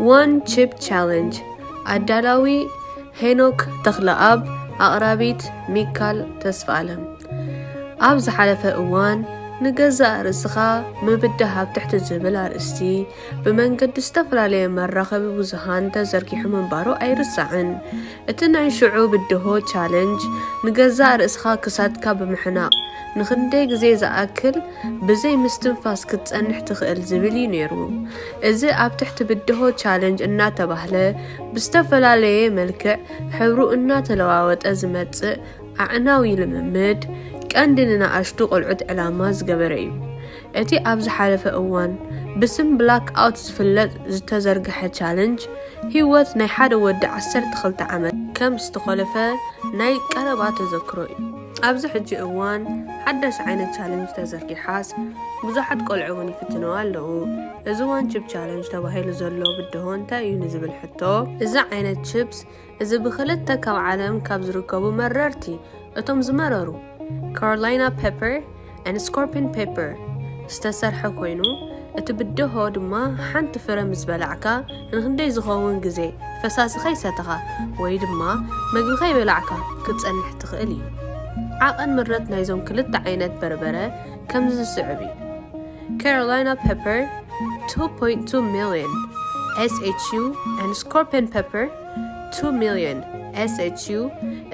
ዋን ቺፕ ቻለንጅ ኣዳላዊ ሄኖክ ተኽለኣብ ኣቕራቢት ሚካል ተስፋኣለም ኣብ ዝሓለፈ እዋን ንገዛእ ርእስኻ ምብዳሃብ ትሕቲ ዝብል ኣርእስቲ ብመንገዲ ዝተፈላለየ መራኸቢ ብዙሃን ተዘርጊሑ ምንባሩ ኣይርሳዕን። እቲ ናይ ሽዑ ብድሆ፣ ቻለንጅ፣ ንገዛእ ርእስኻ ክሳድካ ብምሕናቕ፣ ንኽንደይ ግዜ ዝኣክል ብዘይ ምስትንፋስ ክትጸንሕ ትኽእል ዝብል እዩ ነይሩ። እዚ ኣብ ትሕቲ ብድሆ፣ ቻለንጅ፣ እናተባህለ ብዝተፈላለየ መልክዕ ሕብሩ እናተለዋወጠ ዝመጽእ ኣዕናዊ ልምምድ፣ ቀንዲ ንንኣሽቱ ቆልዑት ዕላማ ዝገበረ እዩ። እቲ ኣብ ዝሓለፈ እዋን ብስም ብላክ ኣውት ዝፍለጥ ዝተዘርግሐ ቻለንጅ፣ ህይወት ናይ ሓደ ወዲ ዓሰርተ ክልተ ዓመት ከም ዝተኾለፈ ናይ ቀረባ ተዘክሮ እዩ። ኣብዚ ሕጂ እዋን ሓዳሽ ዓይነት ቻለንጅ ተዘርጊሓስ ብዙሓት ቆልዑ እውን ይፍትንዋ ኣለዉ። እዚ ዋን ቺፕ ቻለንጅ ተባሂሉ ዘሎ ብድሆ እንታይ እዩ ንዝብል ሕቶ፣ እዚ ዓይነት ቺፕስ፣ እዚ ብክልተ ካብ ዓለም ካብ ዝርከቡ መረርቲ እቶም ዝመረሩ ካሮላይና ፔፐር and ስኮርፒን ፔፐር ዝተሰርሐ ኮይኑ እቲ ብደሆ ድማ ሓንቲ ፍረ ምስ በላዕካ ንክንደይ ዝኸውን ግዜ ፈሳሲ ከይሰተኻ ወይ ድማ መግቢ ከይበላዕካ ክትጸንሕ ትኽእል እዩ። ዓቐን ምረት ናይዞም ክልተ ዓይነት በርበረ ከምዚ ዝስዕብ እዩ። Carolina pepper 2.2 million SHU and scorpion pepper 2 million SHU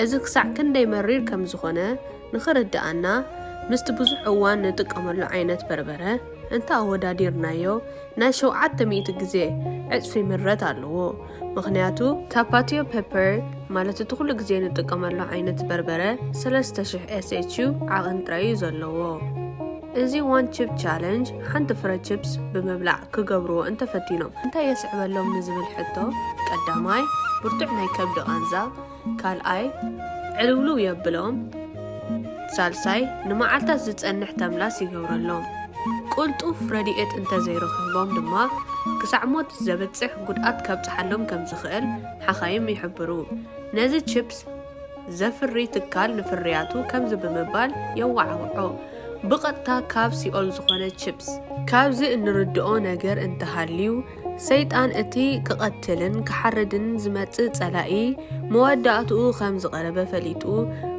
እዚ ክሳዕ ክንደይ መሪር ከም ዝኾነ ንኽርድኣና ምስቲ ብዙሕ እዋን ንጥቀመሉ ዓይነት በርበረ እንተ ኣወዳዲርናዮ ናይ ሸውዓተ ሚእቲ ግዜ ዕጽፊ ምረት ኣለዎ ምክንያቱ ታፓቲዮ ፐፐር ማለት እቲ ኩሉ ግዜ ንጥቀመሉ ዓይነት በርበረ 3000 ኤስኤችዩ ዓቐን ጥራይ እዩ ዘለዎ እዚ ዋን ቺፕ ቻለንጅ ሓንቲ ፍረ ቺፕስ ብምብላዕ ክገብርዎ እንተፈቲኖም እንታይ የስዕበሎም ንዝብል ሕቶ ቀዳማይ ብርቱዕ ናይ ከብዲ ቃንዛ፣ ካልኣይ ዕልውልው የብሎም፣ ሳልሳይ ንመዓልታት ዝጸንሕ ተምላስ ይገብረሎም። ቅልጡፍ ረድኤት እንተዘይረኺቦም ድማ ክሳዕ ሞት ዘብጽሕ ጉድኣት ከብጽሓሎም ከምዝኽእል ሓኻይም ይሕብሩ። ነዚ ቺፕስ ዘፍሪ ትካል ንፍርያቱ ከምዚ ብምባል የወዓውዖ፣ ብቐጥታ ካብ ሲኦል ዝኾነ ቺፕስ። ካብዚ እንርድኦ ነገር እንተሃልዩ፣ ሰይጣን እቲ ክቐትልን ክሓርድን ዝመጽእ ጸላኢ መወዳእትኡ ከም ዝቐረበ ፈሊጡ፣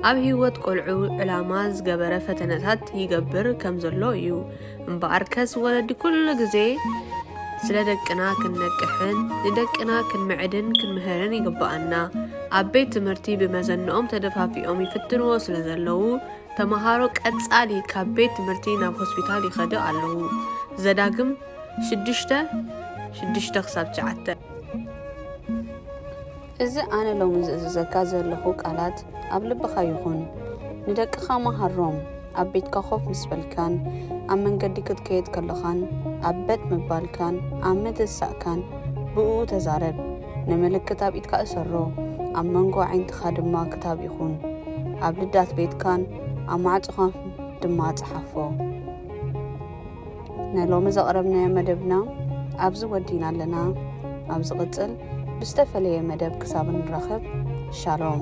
ኣብ ህይወት ቈልዑ ዕላማ ዝገበረ ፈተነታት ይገብር ከም ዘሎ እዩ። እምበኣርከስ ወለዲ ኩሉ ግዜ ስለ ደቅና ክንነቅሕን ንደቅና ክንምዕድን ክንምህርን ይግብኣና። ኣብ ቤት ትምህርቲ ብመዘንኦም ተደፋፊኦም ይፍትንዎ ስለ ዘለዉ ተምሃሮ ቀጻሊ ካብ ቤት ትምህርቲ ናብ ሆስፒታል ይኸዱ ኣለዉ። ዘዳግም ሽዱሽተ ሽዱሽተ ክሳብ ትሽዓተ። እዚ ኣነ ሎሚ ዝእዝዘካ ዘለኹ ቃላት ኣብ ልብኻ ይኹን። ንደቅኻ መሃሮም፣ ኣብ ቤትካ ኮፍ ምስ በልካን ኣብ መንገዲ ክትከይድ ከሎኻን ኣብ በጥ ምባልካን ኣብ ምትሳእካን ብእኡ ተዛረብ። ንምልክት ኣብ ኢድካ እሰሮ፣ ኣብ መንጎ ኣዒንትኻ ድማ ክታብ ይኹን። ኣብ ልዳት ቤትካን ኣብ ማዕጾኻን ድማ ጽሓፎ። ንሎሚ ዘቕረብናዮ መደብና ኣብዚ ወዲእና ኣለና። ኣብ ዝቕጽል ብዝተፈለየ መደብ ክሳብ እንራኸብ ሻሎም።